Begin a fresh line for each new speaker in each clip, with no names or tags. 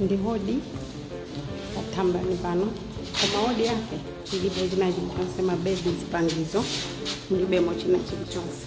ndi wodi pa thambani pano koma wodi yake ilibe china chilichonse mabedi zipangizo mulibemo china chilichonse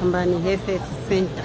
Pambani Health Center.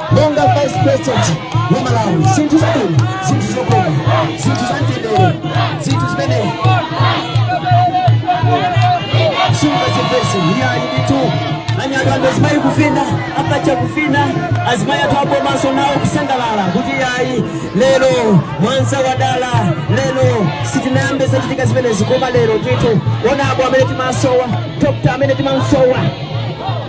monga vice president wa malawi zinthu zabwino zinthu zokoma zinthu zamtendere zinthu zimene sungazipeze iyayi ndithu anyatu anthu azimayi kuvina apacha kuvina azimayi athu a bomanso nawo kusangalala kuti iyayi lero mwanza wadala lero sizinayambe zachitika zimenezi koma lero ndithu ona abo amene timasowa dokta amene timamsowa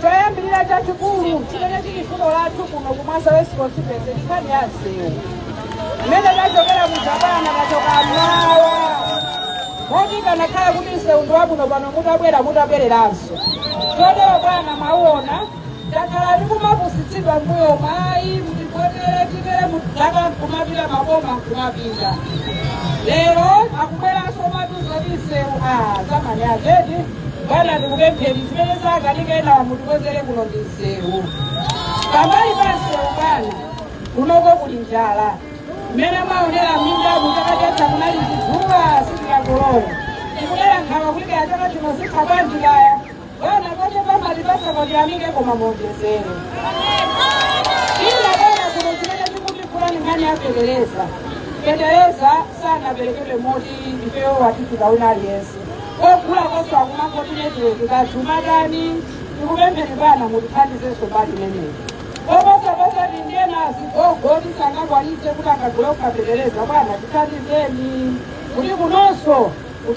Choyambirira chachikulu chimene chili vuto lathu kuno ku Mwanza West Constituency ndi nkhani ya msewu. Mmene tachokera kuja pano tachoka mmawa. Moti kanakhala kuti msewu ndi wabwino pano mutabwera mutabwereranso. Chotero bwana mwaona takhala tikumapusitsidwa mbuyomu ayi mutivotere titere zaka nkumapita maboma nkumapita. Lero akubweranso matuzo ndi msewu a zamani ajeti. Bwana ndikupempheni zimene zakanika enawo mutikonzere kuno ndi msewu pambali pa msewu bwana kunoko kuli njala mmene amaonera minda kuchaka chatha kunali chidzuwa sitikakolola tikudera nkhawa kuti kaya chaka chino zitha bwanji kaya bwana kwache pambali pa sapoti tiyamike koma muonjezere ina bwana kuno chimene chikutikula ni nkhani ya fetereza fetereza sanaperekedwe moti ifeyo watifika wina aliyense kogulakonso akumangoti netiweki kazumadani tikupempheni bwana mutithandizenso mbali imeneyi koposaposa tili ndi ena azigogo oti sangakwanitse kuti akagule okha fetereza bwana tithandizeni kuti kunonso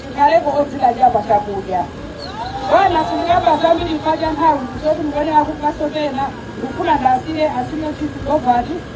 tikhaleko odzidalira pa chakudya bwana sindikamba zambiri paja nthawi zoti mukone akupasopena ndikufuna ndasire asime chizigovati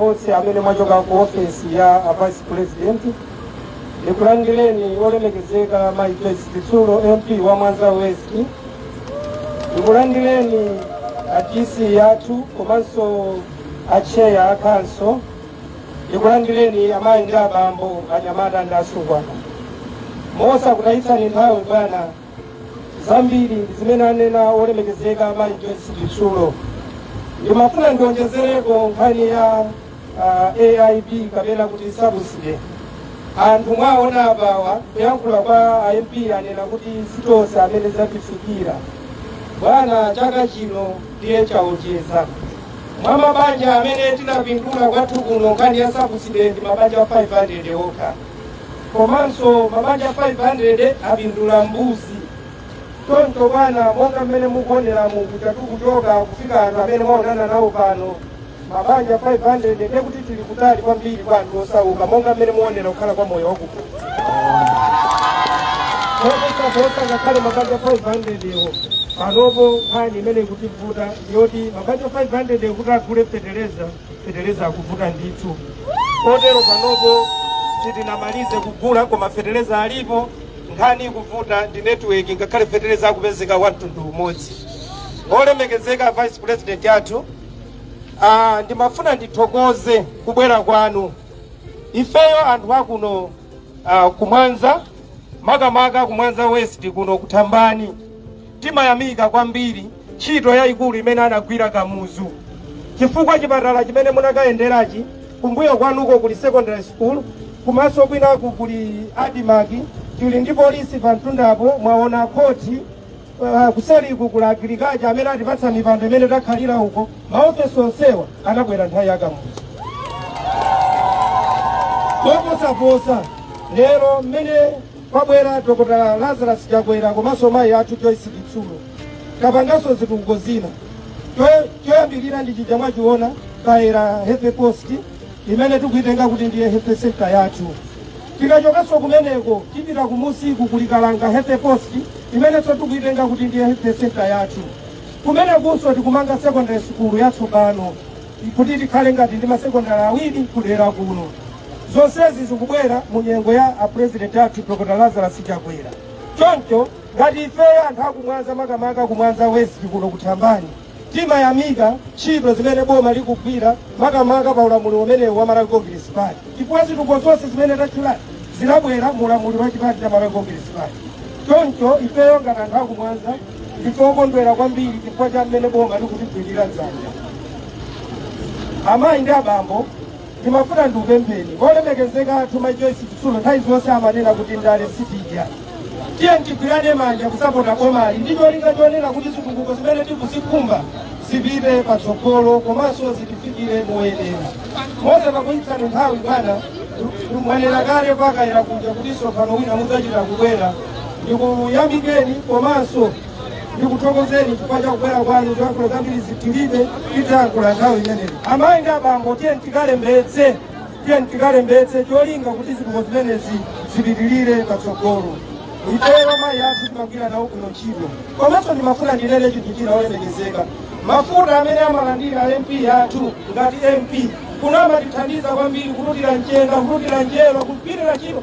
Onse amene mwachoka ku ofesi ya a Vice President ndikulandireni olemekezeka Mayi Joyce Chitsulo MP wa Mwanza West, ndikulandireni a DC yathu komanso a chair a council, ndikulandireni amayi ndi abambo, anyamata ndi asungwana. Mosakutayitsani nthawi bwana zambiri ndi zimene anena wolemekezeka mayi joyce chitsulo ndimafuna ndionjezereko nkhani ya uh, aip kapena kuti sabuside anthu mwaona apawa kuyankhula kwa a mp anena kuti sitonse amene zatifikira bwana chaka chino ndiye chaonjeza mwa mabanja amene tinapindula kwathu kuno nkhani ya sabuside ndi mabanja 500 okha komanso mabanja 500 apindula mbuzi choncho bwana monga mmene mukuonera kuti tikuchoka kufika anthu amene mwaonana nawo pano mabanja 500 ndiye kuti tili kutali kwambiri kwa anthu osauka monga mmene muonera kukhala kwa moyo wakuno koposaposa ngakhale mabanja 500 ewo panopo nkhani imene ikutivuta ndiyoti mabanja 500 kuti agule fetereza feteleza akuvuta ndithu kotero panopo sitinamalize kugula koma feteleza alipo nkhani ikuvuta ndi network ngakhale feteleza akupezeka wa mtundu umodzi olemekezeka vice president athu ah, ndimafuna ndithokoze kubwera kwanu ifeyo anthu akuno ah, ku Mwanza makamaka ku Mwanza West kuno ku Thambani timayamika kwambiri ntchito yaikulu imene anagwira Kamuzu chifukwa chipatala chimene munakayenderachi kumbuyo kwanuko kuli secondary school komanso kwinaku kuli ADMARC tili ndi polisi pa mtundapo mwaona khoti uh, kuseliku kwa agirikacha amene atipatsa mipando imene takhalira uko maofesi onsewa anabwera nthawi ya Kamuzu koposaposa lero mmene Kwabwera Dokotala Lazarus Chakwera komanso mayi athu Joyce Chitsulo. Tapanganso zitukuko zina. Choy- Choyambirira ndi chija mwachiona Kayera Health Post imene tikuitenga kuti ndiye health center yathu. Tikachokanso kumeneko tipita kumusiku kuli Kalanga Health Post imenenso tikuitenga kuti ndiye health center yathu. Kumenekunso tikumanga secondary school yatsopano. kuti tikhale ngati ndi masekondari awiri kudera kuno. Zonsezi zikubwera mu nyengo ya apurezidenti athu Dr. Lazarus Chakwera. Choncho ngati ifeyo anthu aku Mwanza makamaka ku Mwanza West kuno ku Thambani timayamika ntchito zimene boma likugwira makamaka pa ulamuliro umenewu wa Malawi Congress Party chifukwa zitukuko zonse zimene tatchulazi zinabwera mu ulamuliro wa chipani cha Malawi Congress Party. Choncho ifeyo ngati anthu aku Mwanza Ndife okondwera kwambiri chifukwa cha mmene boma likutigwira dzanja. Amayi ndi abambo, ndimafuna ndikupempheni olemekezeka athu Mayi Joyce Chitsulo nthawi zonse amanena kuti ndale sitidya. Tiyeni tigwirane manja kusapota bomali ndi cholinga chonena kuti zitukuko zimene tikuzikhumba zipite patsogolo komanso zitifikire moyenera. Mosachedwetsa nthawi bwana, mwanena kale pa Kayera kuja kuti tsopano wina mudzachita kubwera ndikuyamikeni komanso ndikuthokozeni chifukwa cha kubwera kwanu zoyankhula zambiri zitilibe tidzayankhula nthawi imene amayi ndi abambo tiyeni tikalembetse tiyeni tikalembetse cholinga kuti zitukuko zimenezi zipitirire patsogolo ifeyo mayi athu timagwira nawo kuno ntchito komanso ndimafuna ndinene chinthu china olemekezeka mafuta amene amalandira mp athu ngati mp kuno amatithandiza kwambiri kututira mchenga kututira njelo kupitira ntchito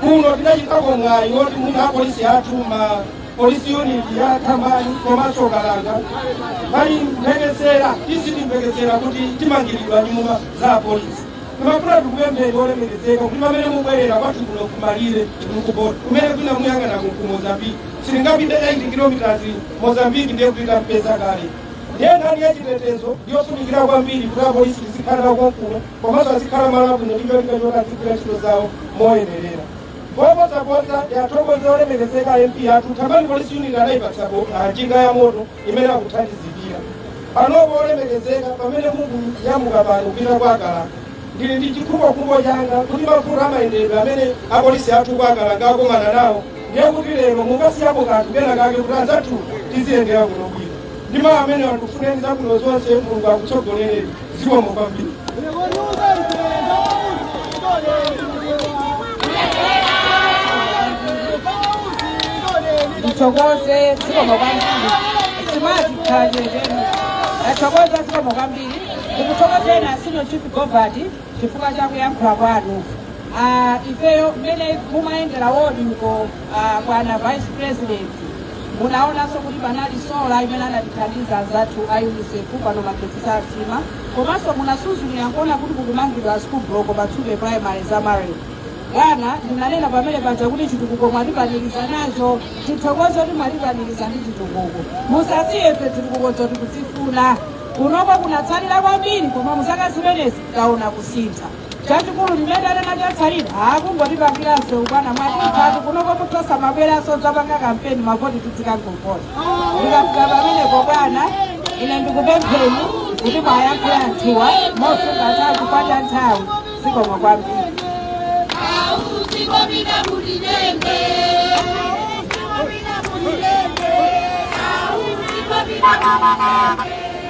kuno tidachitako mwayi woti mwina apolisi athu ma polisi unit ya thambani komanso kalanga pali mphekesera isati mphekesera kuti timangiridwe nyumba za apolisi timafuna tikupempheni olemekezeka kuti pamene mubwerera kwathu kuno kumalire uku pompo kumene kwina mukayang'ana ku ku mozambique sitingapite 8 kilometers mozambique ndiye kuti tafika kale ndiye nkhani ya chitetezo ndiyofunikira kwambiri kuti apolisi azikhala konkuno komanso azikhala malo abwino ndi cholinga choti azigwira ntchito zawo moyenerera koposaposa ndathokoza olemekezeka mp athu thambani polisi unit anayipatsako njinga ya moto imene ikuthandizira panopo olemekezeka pamene mukuyamuka pano kupita kwa Kalanga ndili ndi chikhumbokhumbo changa kuti mavuto amayendedwe amene apolisi athu a kwa Kalanga akumana nawo ndiye kuti lero mukasiyapo kanthu kena kake kuti anzathu aziyendera kuno bwino ndi mawu amenewa ndikufunireni zabwino zonse mulungu akutsogolereni zikomo kwambiri ndithokoze zikomo kwambiri simati khalireni ndathokoza zikomo kwambiri ndikuthokozeni a senior chief govati chifukwa cha kuyankhula kwanu Ah, ifeyo mmene timayendera wodi uko Uh, bwana vice president munaonanso kuti panali sola imene anatithandiza anzathu a unicef pano magetsi sathima komanso munasuzumira kuona kuti kukumangidwa school block pa tsupe primary zama ward bwana ndinanena pamene paja kuti chitukuko mwatipanikiza nacho tikuthokoza kuti mwatipanikiza ndi chitukuko musasiye ife chitukuko choti tikuchifuna kunoko kunatsalira kwambiri koma muzaka zimenezi taona kusintha chachikulu ndiye anena chatsalira nkungotipangiranso bwana mwatithatu kunoko mutha osamabweranso dzapanga kampeni mavoti tidzikangokupatsa ndikafika pamenepo bwana ine ndikupempheni kuti muyankhule anthuwa mosunga nthawi kupata nthawi zikomo kwambiri Thank you.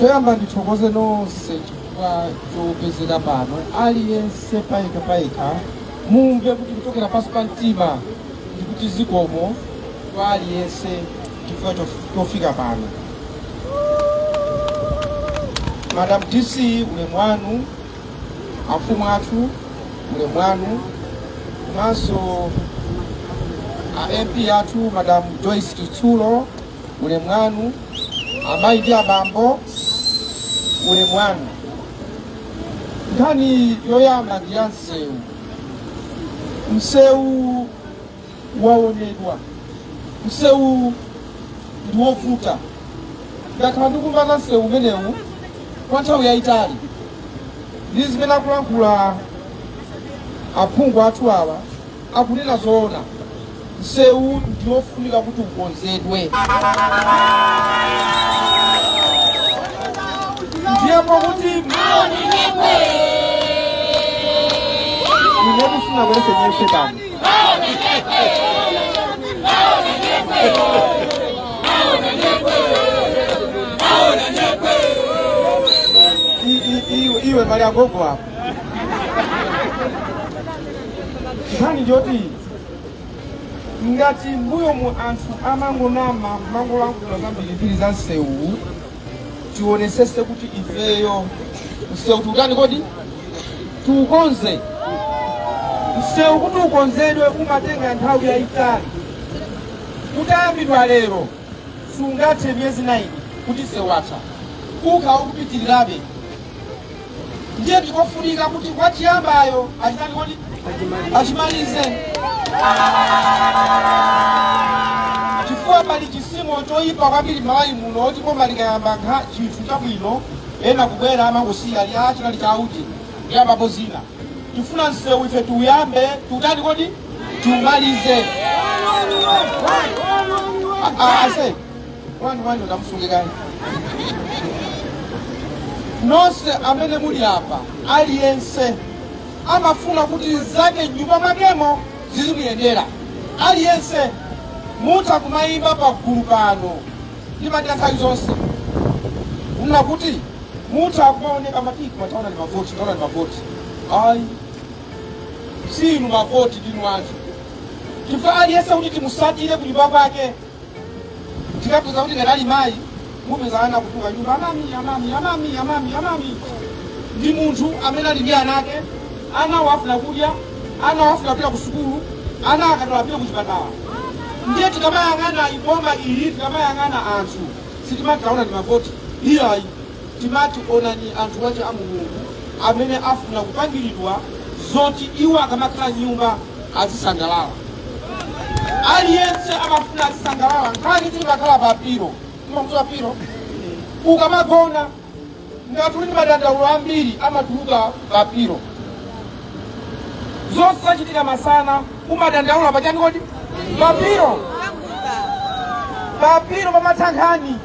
Choyamba ndithokoze nonse chifukwa chopezeka pano, aliyense payekha payekha mumve kuti kuchokera pansi pa mtima ndikuti zikomo kwa aliyense chifukwa chof- chofika pano. Madam DC ulemu wanu, afumu athu ulemu wanu, komanso a MP athu Madam Joyce Chitsulo ulemu wanu amayi ndi abambo ulemu wanu nkhani yoyamba ndi ya msewu msewu waonedwa msewu ndi wovuta ndakhala ndikumva za nsewu umenewu kwa nthawi yayitali ndi zimene akulankhula aphungu athu awa akunena zoona Nsewu ndiwofunika kuti ukonzedwe. Ndiye pakuti ine kufuna kwese nyefe pano. I- i- iwe- Iwe mali agogo apo. Nkhani njoti ngati mbuyo mu anthu amangonama amangolankhula zambirimbiri za msewu tionesese kuti ifeyo msewu tiutani kodi tiukonze msewu kuti ukonzedwe umatenga nthawi yayitali utayambidwa lero sungathe miyezi inayi kuti msewu utha kukhala ukupitirirabe ndiye ndikofunika kuti akachiyambayo achimalize chifukwa pali chisimo choyipa kwambiri Malawi muno choti boma likayambako chinthu chabwino ena kubwera amachisiya ati chinali cha auje kuyambapo zina tifuna nsewu ife tiuyambe tiutani kodi tiumalize wanu wanu namusunge kaye nonse amene muli apa aliyense amafuna kuti zake mnyumba mwakemo zizimuyendera aliyense mutha kumayimba pa gulu pano ndimati anthawi zonse mumafuna kuti mutha kumaoneka matiki tikamaona ngati mavoti ayi si inu mavoti ndinu anthu chifukwa aliyense kuti timusatire kunyumba kwake ndikapeza kuti ndinali mayi mupeza ana kutuka nyumba amami amami amami amami amami ndi munthu amene ali ndi ana ake ana wafuna kudya ana wafuna kupita ku sukulu ana akadwala apite ku chipatala ndiye tikamayang'ana iboma ili tikamayang'ana anthu sitimatikaona ndi mavoti iyayi Timati onani anthu wache a Mulungu amene afuna kupangiridwa zoti iwo akamakhala m'nyumba azisangalala. Aliyense amafuna azisangalala nkhani zimakhala pa pilo. Mumamuziwa pilo? Ukamagona ngati uli ndi madandaulo ambiri amatuluka pa pilo. Zonse zachitika masana umadandaula pa chani kodi? Pa pilo. Pa pilo pamatha nkhani.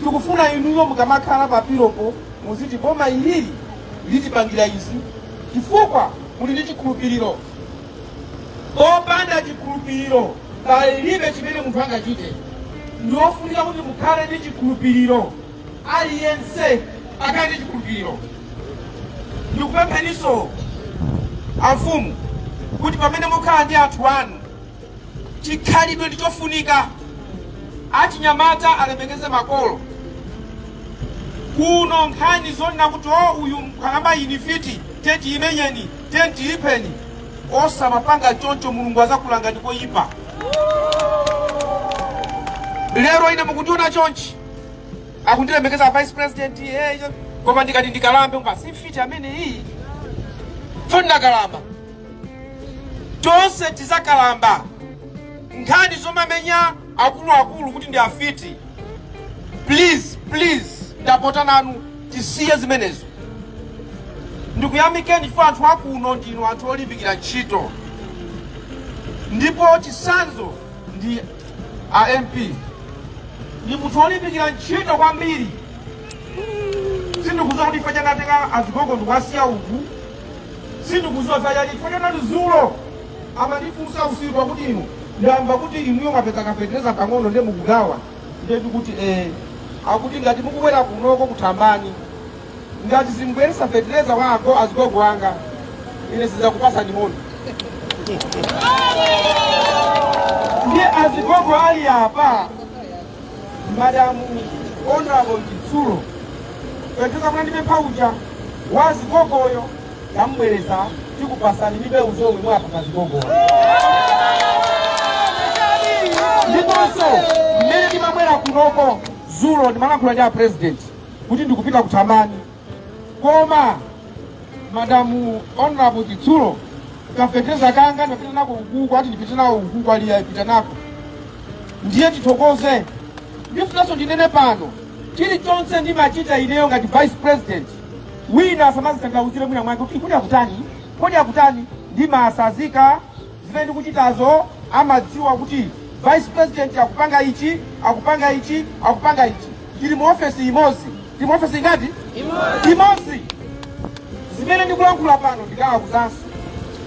Tikufuna inuyo mukamakhala pa pilopo muziti boma ili litipangira izi chifukwa muli ndi chikhulupiriro. Popanda chikhulupiriro palibe chimene munthu angachite. Ndi ofunika kuti mukhale ndi chikhulupiriro, aliyense akhale ndi chikhulupiriro. Ndikupempheninso amfumu kuti pamene mukhala ndi anthu anu Chikhalidwe ndi chofunika. Achinyamata alemekeze makolo. Kuno nkhani zonena kuti o uyu nkhalamba iyi ndi mfiti tiyeni tiimenyeni tiyeni tiipheni osamapanga choncho mulungu azakulangani n'koipa lero ine mukundiona chonchi akundilemekeza vice president eh, koma ndikati ndikalambe basi mfiti amene iyi poti ndakalamba tonse tizakalamba nkhani zomamenya akuluakulu kuti ndi afiti please please ndapota nanu tisiye zimenezo ndikuyamikeni chifukwa anthu akuno ndinu anthu olimbikira ntchito ndipo chisanzo ndi a mp ndi munthu olimbikira ntchito kwambiri sindikuziwa kuti chifukwa chani anatenga azigogo ndikuwasiya uku sindikuziwa zachani chifukwa chonena kuti zulo amandifunsa usiku akuti inu ndamva kuti inuyo mwapeza kafetereza pang'ono nde mukugawa nde ndikuti eh akuti ngati mukubwera kunoko ku thambani ngati simubweresa fetereza wa ago azigogo anga ine sizakupasani moni ndiye azigogo ali apa madamu honorable chitsulo fetereza mwandipempha uja wa azigogoyo tamubweresa tikupasani ndi mbewu zomwe muwapase azigogoyo ndiponso mmene ndimabwera kunoko zulo ndimalankhula ndi a president kuti ndikupita ku thambani koma madamu honorable chitsulo kafeteza kanga ndapita nako ukuku ati ndipite nawo ukuku ali apita nako ndiye tithokoze ndifunanso ndinene pano chilichonse ndimachita ineyo ngati vice president wina asamazitanthauzire mwina mwake kuti kodi akutani kodi akutani ndimasazika Zimene ndikuchitazo amadziwa kuti vice president akupanga ichi, akupanga ichi, akupanga ichi. Tili mu ofesi imodzi. Tili mu ofesi ingati? Imodzi. Imodzi. Zimene ndikulankhula pano ndikawauzanso.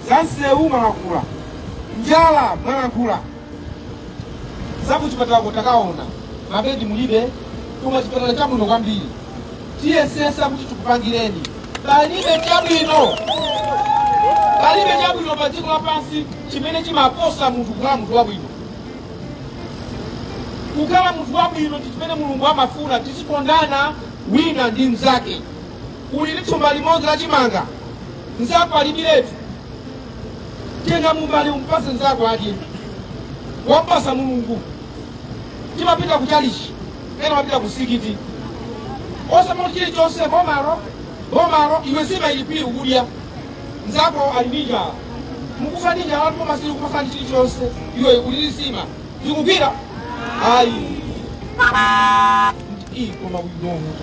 Za msewu mwalankhula. Njala mwalankhula. Za kuchipatalako takaona. Mabedi mulibe. Koma chipatala chabwino kwambiri. tiyesesa kuti tikupangireni palibe chabwino palibe chabwino pa dziko lapansi chimene chimaposa munthu kukhala munthu wabwino kukhala munthu wabwino ndi chimene mulungu amafuna tizikondana wina ndi mnzake uli ndi thumba limodzi la chimanga mnzako alibiretu tenga mumbali umpase mnzako adye wampasa mulungu timapita ku chalichi ena amapita ku msikiti osamati chilichonse bomalo bomalo iwe nsima ili phiri ukudya mzako ali ndi njala mukufa ndi njala boma sili kumafa ndi chilichonse iwe uli ndi nsima zikugwira ayi Ii, koma udomo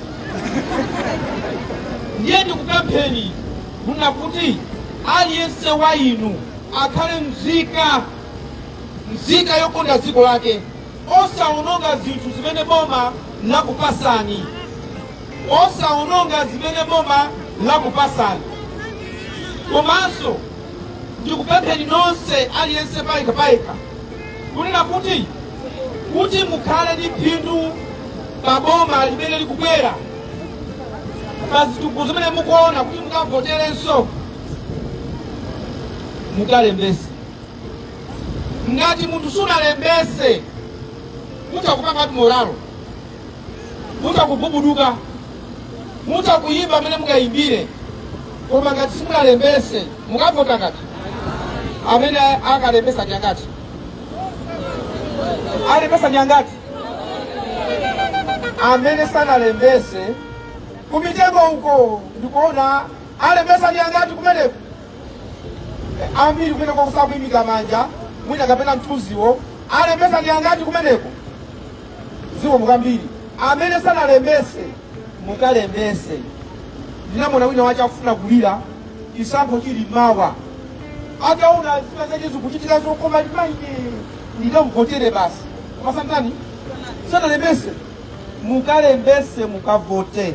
ndiye ndikupempheni kunena kuti aliyense wa inu akhale mzika Mzika yokonda dziko lake. Osaononga zinthu zimene boma lakupasani. Osaononga zimene boma lakupasani. Komanso ndikupempheni nonse aliyense payekha payekha kunena kuti kuti mukhale ndi phindu pa boma limene likubwera pa zitukuko zimene mukuona kuti mukavoterenso mukalembese ngati munthu sunalembese mutha kupanga moralo mutha kugubuduka mutha kuyimba mmene mungayimbire koma ngati simunalembese mukavota ngati amene akalembesa ndi angati alembesa ndi angati amene sanalembese kumitengo uko ndikuona alembesa ndi angati kumeneko ambiri kumeneko sakuimika manja mwina kapena mthunziwo alembesa ndi angati kumeneko zikomo kwambiri amene sanalembese mukalembese ndinamuona wina wace akufuna kulira chisankho chili mawa ataona zina zace zikuchitika zokoma limaine ndikamvotere basi koma sanatani sanalembese mukalembese mukavote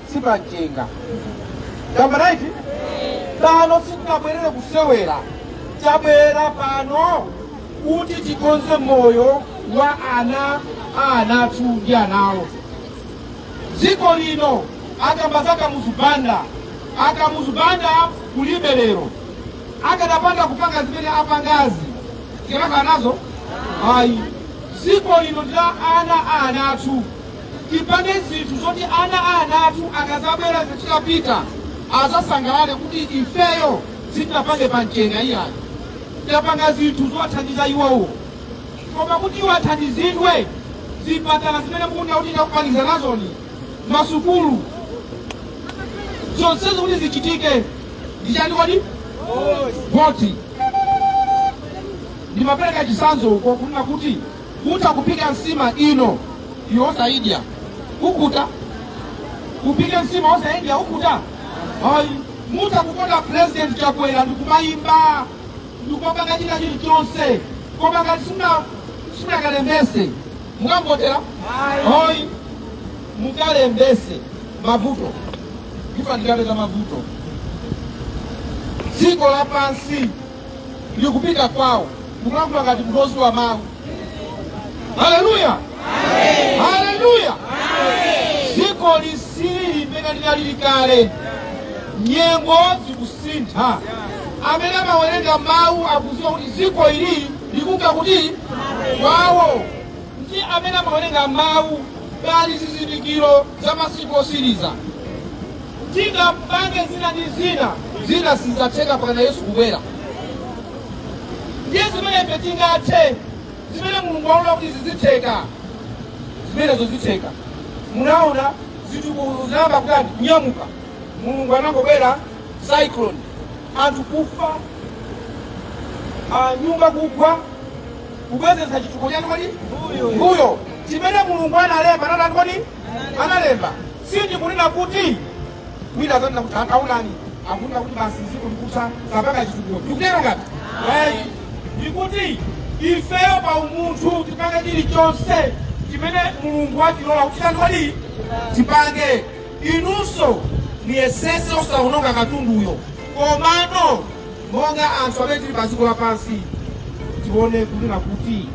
si pamchenga tamanga ayi pano sitinabwerere kusewera tabwerera pano kuti tikonze moyo wa ana a ana athu ndi anawo dziko lino akamba za Kamuzu Banda a Kamuzu Banda kulibe lero akadapanda kupanga zimene apangazi sitikadakhala nazo ayi dziko lino ndi la ana a ana athu Tipange zinthu zoti ana a ana athu akazabwera ife titapita azasangalale kuti ifeyo sitinapange pamchenga iyayi, tapanga zinthu zowathandiza iwowo. Koma kuti iwo athandizidwe, zipatala zimene mukunena kuti ndikupanikiza nazoni, masukulu, zonsezo kuti zichitike ndi chani kodi? Voti. Ndimapereka chitsanzo uko kunena kuti utakupika nsima iwe osaidya ukhuta upike nsima osaidya ukhuta ayi mutha kukonda president chakwera ndikumayimba ndikuwapanga china chilichonse koma ngati si- simunakalembese mukawavotera ayi mukalembese mavuto tifa nawo tikapeza mavuto dziko lapansi likupita kwawo ndikulankhula ngati modziwa mawu haleluya haleluya dziko silili limene linalili kale nyengo zikusintha amene amawerenga mawu akudziwa kuti dziko ili likuka kuti kwawo Ndi amene amawerenga mawu. Pali zizindikiro za masiku osiriza. Tingapange zina ndi zina, zina sizatheka mpakana Yesu kubwera. Ndiye zimene ife tingathe, zimene Mulungu waona kuti zizitheka, zimenezo zitheka. Munaona zitukuko zinayamba kutani kunyamuka, Mulungu anangobwera cyclone, anthu kufa, ah, nyumba kugwa kubwezeretsa chitukuko chani kodi mbuyo chimene mulungu analemba anatani kodi analemba sindikunena kuti wina azanena kuti akaunani- akunena kuti basi ziko likutha sapanga chitukuko ndikutero ngati ayi ndikuti ifeyo pa umunthu tipange chilichonse chimene mulungu watilola kuti titani kodi tipange inunso muyesese osaononga katunduyo komano Monga anthu amene tili pa dziko lapansi, tione kunena kuti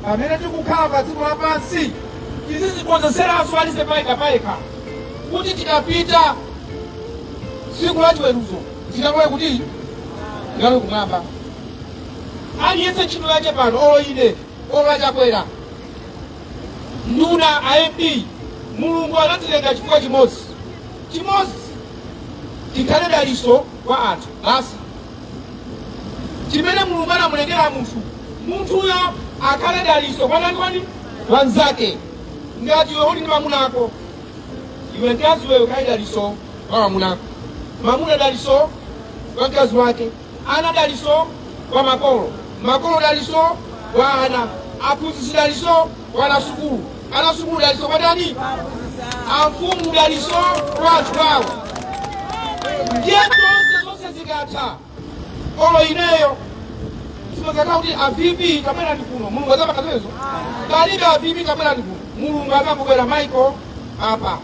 pamene tikukhala pa dziko lapansi tizidzikonzekeretsa aliyense payekha payekha kuti tikapita tsiku la chiweruzo tikalowe kuti, tikalowe kumwamba. Aliyense cholinga chake pano, olo ine olo a Chakwera nduna a MP mulungu anatilenga chifukwa chimodzi chimodzi tikhale dalitso kwa anthu basi chimene mulungu anamulengera munthu munthuyo akhale daliso kwanani kwani wanzake ngati iwe uli ndi mamuna ako iwe mkazi wewe ukhale daliso kwa mamuna ako mamuna daliso kwa mkazi wake ana daliso kwa makolo makolo daliso kwa ana aphunzitsi daliso Mwana wa sukulu ana a sukulu dalitso kwa ndani? Amfumu dalitso kwa anthu ao. Ndiye tonse zonse zikatha olo ineyo sizizakhala kuti a VP kabwereni kuno mulungu sadzapanga zimenezo palibe a VP kabwereni kuno mulungu azabwera Michael apa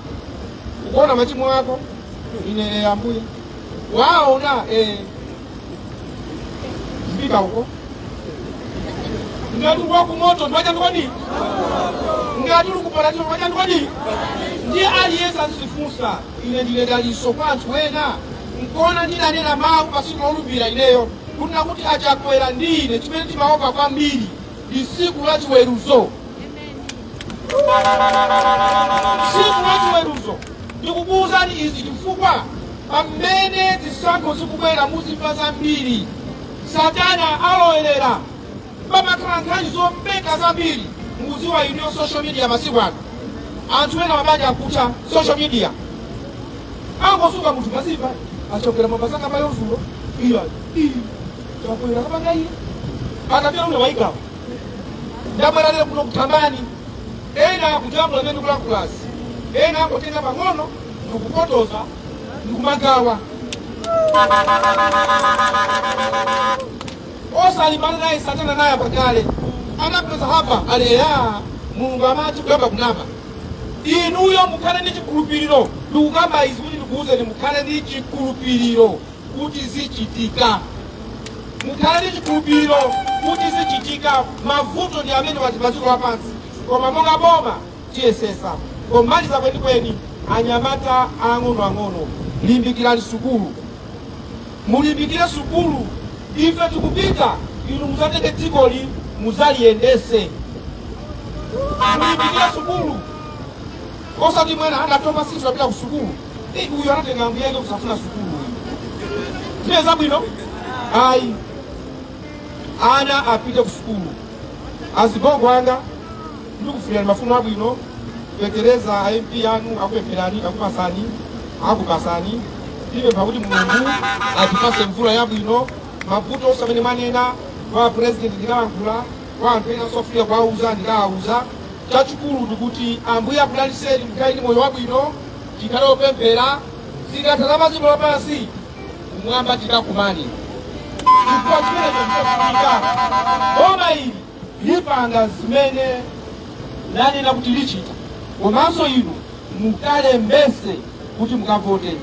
ukuona machimo ako iwe eh, ambuye waona eh, uzipita uko ngati uli wakumoto ndiwe wa chani kodi ngati uli kuparadizo ndiwe wa chani kodi ndiye aliyense azizifunsa ine ndine dalitso kwa anthu ena nkuona ndidanena mawu pasiku lolumbira ineyo kunena kuti a Chakwera ndi ine chimene timaopa kwambiri ndi tsiku la chiweruzo tsiku la chiweruzo ndikukuwuzani izi chifukwa pamene zisankho zikubwera muzimva zambiri satana alowerera pamakhala nkhani zomveka zambiri mukuziwa inuyo social media masiku ano anthu ena mabanja akutha social media angozuka munthu mazimva a Chakwera mapasaka payo dzulo iya iyi Chakwera wapanga iye atapita ule waigawa ndabwera lero kuno ku Tabwani ena akujambula zimene ndikulankhulazi ena angotenga pang'ono ndikupotoza ndikumagawa osalimbana naye satana naye pa kale anampeza Hava alendi mulungu amazikuyamba kunama inuyo mukhale ndi chikhulupiriro ndikukamba izi kuti ndikuwuzeni mukhale ndi chikhulupiriro kuti zichitika. Mukhale ndi chikhulupiriro kuti zichitika. Mavuto ndi amene ali pa dziko lapansi, koma monga boma tiyesesa. Pomaliza kwenikweni, anyamata ang'onoang'ono, limbikirani sukulu, mulimbikire sukulu. Ife tikupita, inu muzatenge dzikoli muzaliyendese. Mulimbikire sukulu, osati mwana watopa sisi wapita ku sukulu. Eh, uyu anatenga ambuye ake kusafuna sukulu uyu ndiye zabwino ayi ana apite ku sukulu azigogo wanga ndikufunirani mafuno abwino petererani a mp anu akupempherani akupasani akupasani ndipempha kuti mulungu atipase mvula yabwino mavuto onse amene manena kwa president ndikalankhula kwa anthu ena sofika kuwauza ndikawauza chachikulu ndikuti ambuye akudaliseni mukhale ndi moyo wabwino tikhale opemphera zikatha za dziko lapansi kumwamba tikakumane chifukwa chimenecho ndichofunika boma ili lipanga zimene lanena kuti lichita komanso inu mukalembetse kuti mukavote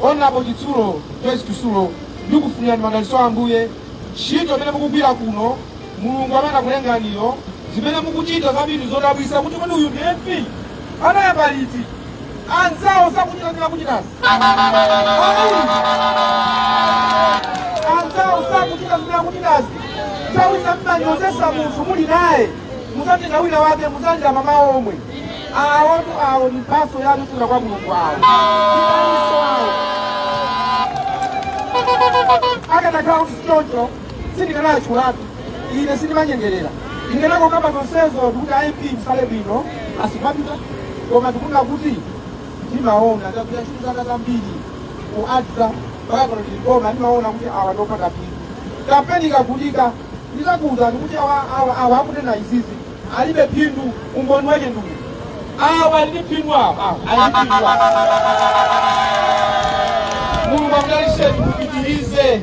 onapo chitsulo joyce chitsulo ndikufunirani madalitso a ambuye ntchito imene mukugwira kuno mulungu amene anakulenganiyo zimene mukuchita zambiri zodabwitsa kuti kodi uyu ndi mp anayamba liti anzawo sakuchita zilikuchitikazi anzawo sakuchita zilikuchitikazi nthawi zina mmanyozetsa munthu muli naye muzatenga wina wake muzalira mayi omwe awotu awo ni mphatso yanu kuchokera kwa mulungu awo Itanso awo. akadakhala kuti sichoncho sindikanayankhulatu ine sindimanyengerera ndikanakokamba zonsezo ndikuti a mp tsalani bwino asanapite koma ndikunena kuti ndimaona chakudya chili zaka zambiri ku adza mpaka pano tili koma ndimaona kuti awa ndopanda phindu kampeni ikatsegulidwa ndizakuwuzani kuti awa awa awa akunena izizi alibe phindu umboni wake ndi uwu awa ali ndi phindu awa awa ali ndi phindu awa mulungu akudalitseni mupitirize